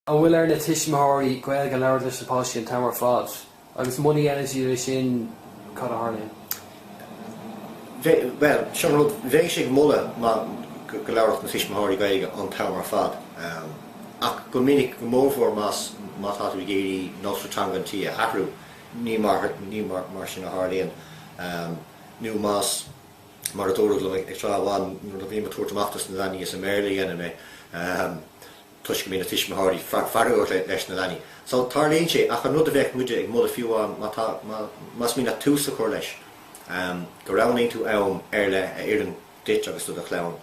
An bhfuil ar na tuismitheoirí Gaeilge a labhairt leis na páistí an t-am ar fad? Agus muna dhéanann siad é sin cad a tharlaíonn? Bheadh, bhuel, seo an rud, bheadh sé á moladh go labharfadh na tuismitheoirí Gaeilge an t-am ar fad ach go minic, go mórmhór más má tá tú ag iarraidh nósanna teanga an tí a athrú, ní mar, ní mar sin a tharlaíonn. Nó más, mar a dúradh liom tráth amháin nuair a bhím ag tabhairt amach dos na leanaí is i mBéarla a dheinim é. toisc go mbíonn na tuismitheoirí feargach leis na leanaí. So tarlaíonn sé ach an rud a bheadh muide ag moladh fiú amháin má tá, má, más mian leat tús a chur leis em go roghnaíonn tú am ar leith a oireann duit agus do do chlann,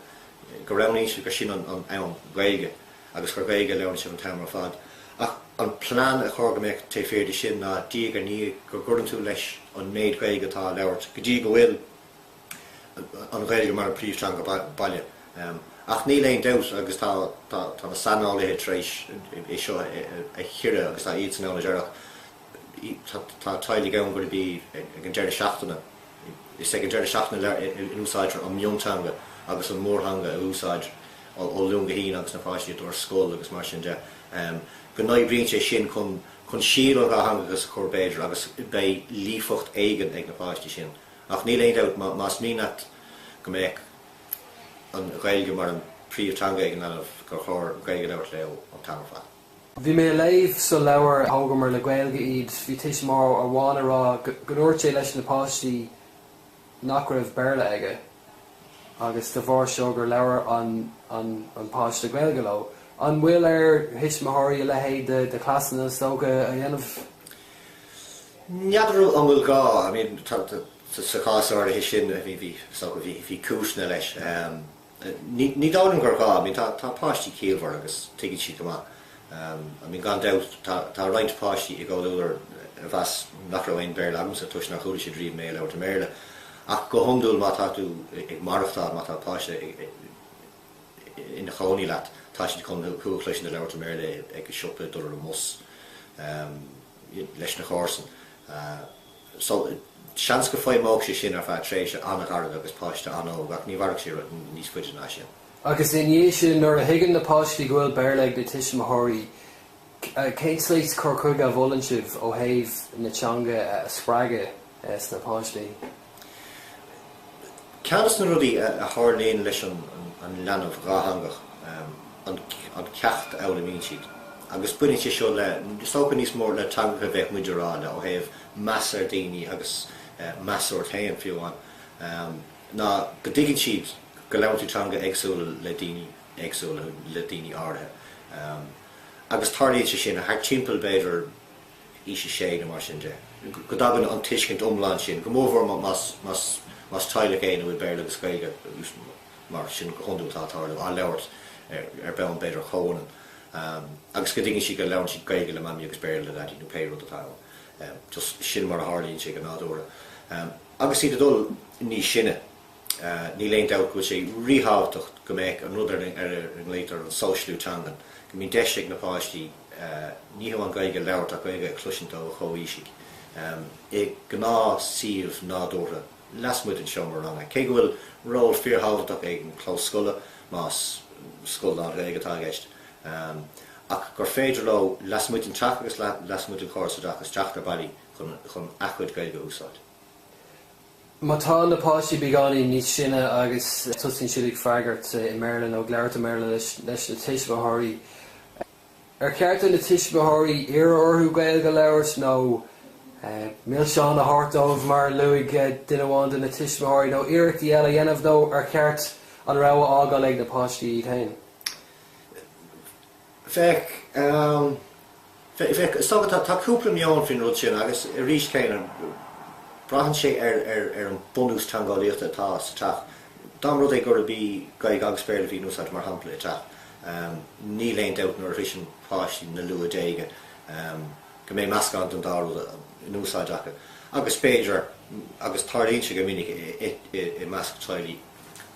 go roghnaíonn tú gur sin an, an am Gaeilge agus gur Gaeilge a labhraíonn sibh an t-am ar fad. Ach an plean a chur go mbeadh taobh thiar de sin ná diaidh ar ndiaidh go gcuireann tú leis an méid Gaeilge atá á labhairt go dtí go bhfuil, an Ghaeilge mar an príomhtheanga baile. Ach níl aon dabht agus tá na saineolaithe tar éis é seo a chíoradh agus tá iadsan ann a deirfeadh tá teaghlaigh ann go mbíonn ag an deireadh seachtaine is ag an deireadh seachtaine a úsáidtear an mionteanga agus an mórtheanga in úsáid ó Luan go hAoine agus na páistí ag dul ar scoil agus mar sin de go n-oibríonn sé sin chun síol an dhátheangachais a chur b'fhéidir agus beidh líofacht éigin ag na páistí sin. Ach níl aon dabht, más mian leat go mbeadh an Ghaeilge mar an príomhtheanga ag an leanbh, gur chóir Gaeilge a labhairt leo an t-am ar fad. Bhí mé ag léamh sa leabhar Thógamar le Gaeilge iad, bhí tuismitheoir amháin ag rá go ndúirt sé leis na páistí nach raibh Béarla aige agus de bharr seo gur labhair an páiste Gaeilge leo. An bhfuil ar thuismitheoirí a leithéid de chleasanna is dócha a dhéanamh? N'fheadar an bhfuil gá, I mean sa chás áirithe sin tá a fhios agam, bhí cúiseanna leis. Ní dóigh liom gur gá, I mean tá páistí ciallmhar agus tuigeann siad go maith. I mean gan dabht tá roinnt páistí i gComhluadar a mheas nach raibh aon Bhéarla agamsa toisc nár chuala siad riamh mé ag labhairt i mBéarla. Ach go hiondúil má tá tú ag maireachtáil, má tá páiste ina chónaí leat tá siad chun thú a chloisint ag labhairt i mBéarla ag an siopa, ag dul ar an mbus. leis na comharsain. So seans go bhfeidhmeodh sé sin ar feadh tréimhse an-ghairid agus páiste an-óg ach ní mhairfeadh sé níos faide ná sin. Agus ina dhiaidh sin, nuair a thuigeann na páistí go bhfuil Béarla ag na tuismitheoirí, cén saghas cur chuige a mholann sibh ó thaobh na teanga a spreagadh sna páistí? Ceann de na rudaí a tharlaíonn leis an leanbh dhátheangach an ceacht a fhoghlaimíonn siad agus baineann sé seo le, is dócha, níos mó le teangacha a bheadh muid a rá le ó thaobh meas ar daoine agus meas ort féin fiú amháin, ná go dtuigeann siad go labhraíonn tú teanga éagsúla le daoine éagsúla, le daoine áirithe. Agus tarlaíonn sé sin thart timpeall b'fhéidir, aois a sé nó mar sin de, go dtagann an tuiscint iomlán sin, go mórmhór más teaghlach é 'na bhfuil Béarla agus Gaeilge, agus mar sin go hiondúil atá ag tarlú, á labhairt ar bonn b'fhéidir chomhionann, agus go dtuigeann sí go labhraíonn sí Gaeilge le Maimí agus Béarla le Daidí nó pé rud atá ann. Just sin mar a tharlaíonn sé go nádúrtha. Agus iad ag dul níos sine. Níl aon dabht go bhfuil sé ríthábhachtach go mbeadh an rud ar a nglaotar an sóisialú teangan, go mbíonn deis ag na páistí ní hamháin Gaeilge a labhairt ach Gaeilge a chloisint ó a chomhaoisigh i gnáthshuíomh nádúrtha lasmuigh den seomra ranga. Cé go bhfuil ról fíorthábhachtach ag an clós scoile, más scoil lán-Ghaeilge atá i gceist, ach gur féidir leo lasmuigh den teach agus lasmuigh den chóras oideachais teacht ar bhealaí chun a chuid Gaeilge a úsáid. Má tá na páistí beagáinín níos sine agus tosaíonn siad ag freagairt i mBéarla nó ag labhairt i mBéarla leis na tuismitheoirí, ar cheart do na tuismitheoirí iarraidh orthu Gaeilg a labhairt nó milseáin a thabhairt dóibh mar a luaigh duine amháin de na tuismitheoirí, nó iarrachtaí eile a dhéanamh nó ar cheart an rogha a fhágáil ag na páistí iad féin? Féach, tá cúpla meon faoin rud sin agus arís céanna braitheann sé ar an bunús teangeolaíochta atá sa teach. Dá mba rud é gurb í Gaeilge agus Béarla a bhí in úsáid mar shampla i dteach níl aon dabht nuair a shroiseann páistí na luath déaga go mbeidh meascán den dá rud in úsáid acu agus b'fhéidir, agus tarlaíonn sé go minic i measc teaghlaigh.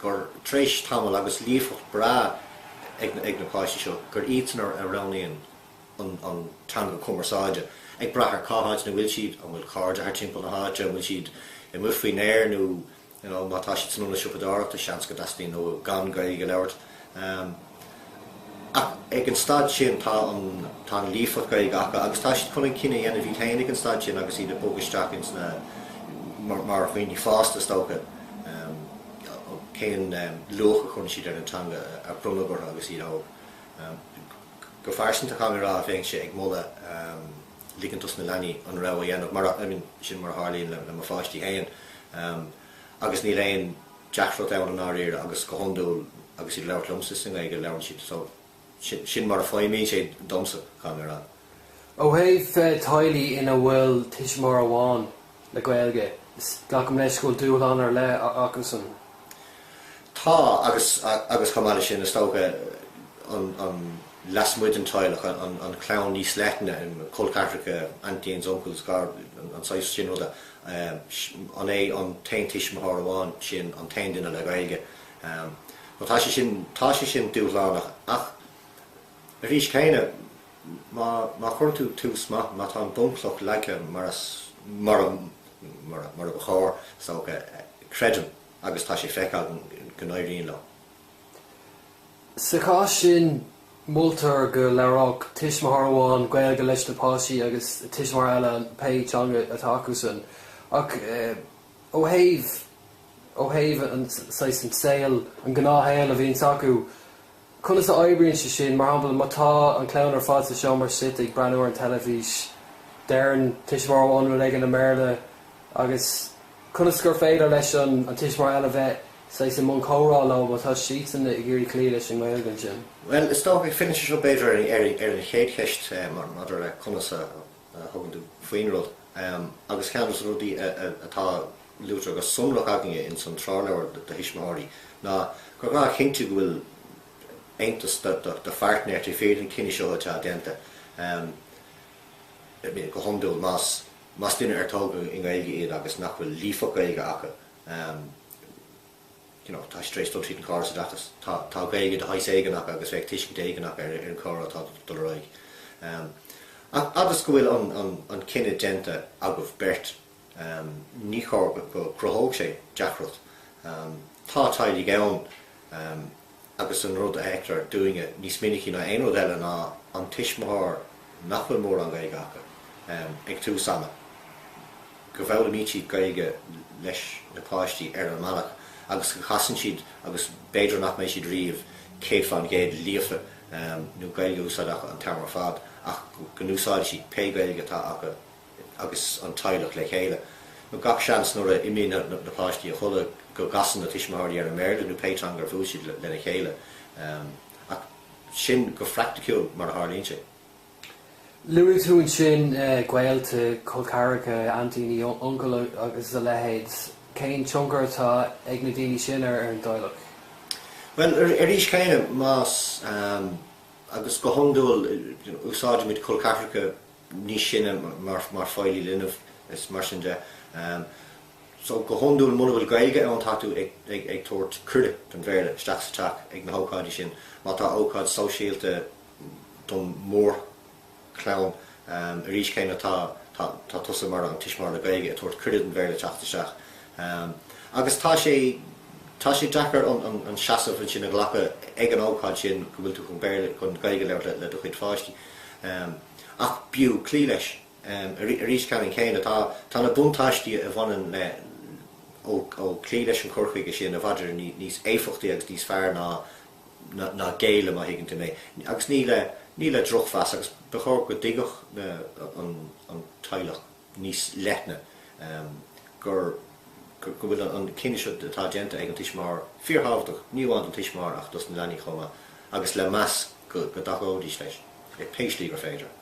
gur tréis tamaill agus líofacht breá ag na páistí seo gur iadsan a roghnaíonn an teanga cumarsáide ag brath ar cá háit ina bhfuil siad, an bhfuil cairde thar timpeall na háite, an bhfuil siad amuigh faoin aer nó má tá siad san ionad siopadóireachta seans go dteastaíonn uathu gan Gaeilge a labhairt. Ach ag an staid sin tá an líofacht Gaeilge acu agus tá siad chun an cinneadh a dhéanamh iad féin ag an staid sin agus iad ag bogadh isteach ins na, mar dhaoine fásta is dócha, cén luach a chuireann siad ar an teanga a bronnadh orthu agus iad óg. Go phearsanta chaithfidh mé rá bheinnse ag moladh ligint dos na leanaí an rogha a dhéanamh mar, I mean, sin mar a tharlaíonn le mo pháistí féin. agus níl aon deacracht ann i ndáiríre agus go hiondúil agus iad ag labhairt liomsa i nGaeilge labhrann siad so sin sin mar a fheidhmíonn sé domsa tá mé a rá. Ó thaobh teaghlaigh ina bhfuil tuismitheoir amháin le Gaeilge, glacaim leis go bhfuil dúshlán ar leith acusan? Tá agus agus chomh maith leis sin is dócha an an lasmuigh den teaghlach an an chlann níos leithne, col ceathracha, aintíns, uncles, an saghas sin ruda An é an t-aon tuismitheoir amháin sin an t-aon duine le Gaeilge? Bhuel, tá sé sin, tá sé sin dúshlánach ach arís céanna má, má chuireann tú tús maith, má tá an bhunchloch leagtha mar a, mar a, mar a, mar ba chóir, is dócha, creidim agus tá sé feicthe agam go n-éiríonn leo. Sa chás sin moltar go labhródh tuismitheoir amháin Gaeilge leis na páistí agus tuismitheoir eile pé teanga atá acusan. Ach ó thaobh, ó thaobh saghas, an saol, an gnáthshaol a bhíonns acu, conas a oibríonn sé sin? Mar shampla, má tá an chlann ar fad sa seomra suite ag breathnú ar an teilifís, deireann tuismitheoir amháin rud éigin i mBéarla agus Conas gur féidir leis an tuismitheoir eile bheith saghas i mbun comhrá leo má tá siadsan ag iarraidh cloí leis an nGaeilge ansin? Bhuel, is dócha go bhfilleann sé seo b'fhéidir ar an chéad cheist maidir le conas a thugann tú faoin rud. Agus ceann de na rudaí atá luaite go sonrach againne ins an treoirleabhar do thuismitheoirí ná gur gá a chinntiú go bhfuil aontas do phairtnéir taobh thiar den chinneadh seo atá déanta, go hiondúil, más más duine ar tógadh in Éirinn iad agus nach bhfuil líofacht Gaeilge acu you know tá siad tar éis dul tríd an gcóras oideachais tá tá Gaeilge de shaghas éigin acu agus bheadh tuiscint éigin acu ar an gcomhrá atá ag dul ar aghaidh ach fhad is go bhfuil an an an cinneadh déanta agaibh beirt ní chóir go gcruthódh sé deacracht tá teaghlaigh ann agus an rud a fheictear dúinne níos minicí ná aon rud eile ná an tuismitheoir nach bhfuil mórán Gaeilge acu ag tús ama, go bhfoghlaimíd Gaeilge leis na páistí ar an mbealach agus go gcasann siad agus b'fhéidir nach mbeidh siad riamh 100% líofa nó Gaeilge a úsáid acu an t-am ar fad ach go n-úsáideann siad pé Gaeilge atá acu. agus an teaghlach le chéile. Nó gach seans nuair a imíonn na páistí a chodladh go gcasann na tuismitheoirí ar an mBéarla nó pé teanga ar bhuail siad lena chéile. Ach sin go phraicticiúil mar a tharlaíonn sé. Luaigh tú ansin gaolta, col ceathracha, aintíní, uncail agus a leithéid. Cén tionchar atá ag na daoine sin ar an dteaghlach? Bhuel, arís céanna, más, agus go hiondúil úsáidimid col ceathracha níos sine mar feighlí linbh is mar sin de. So go hiondúil muna bhfuil Gaeilge ann tá tú ag tabhairt cuireadh don Bhéarla isteach sa teach ag na hócáidí sin. Má tá ócáid sóisialta don mór chlann arís céanna tá tá tusa mar an tuismitheoir le Gaeilge ag tabhairt cuireadh don Bhéarla teacht isteach. Agus tá sé tá sé deacair an seasamh sin a ghlacadh ag an ócáid sin go bhfuil tú chun Béarla chun Gaeilge a labhairt le do chuid pháistí. Ach b'fhiú cloí leis. Arís, ceannann céanna, tá na buntáistí a bhaineann le ó cloí leis an chur chuige sin i bhfad Éireann níos éifeachtaí agus níos fearr ná ná géilleadh, má thuigeann tú mé. Agus ní le drochmheas, agus ba chóir go dtuigfeadh an teaghlach. níos leithne, gur, go, go bhfuil an cinneadh seo atá déanta ag an tuismitheoir fíorthábhachtach, ní amháin don tuismitheoir ach dos na leanaí chomh maith agus le meas go dtacóidís leis pé slí gur féidir.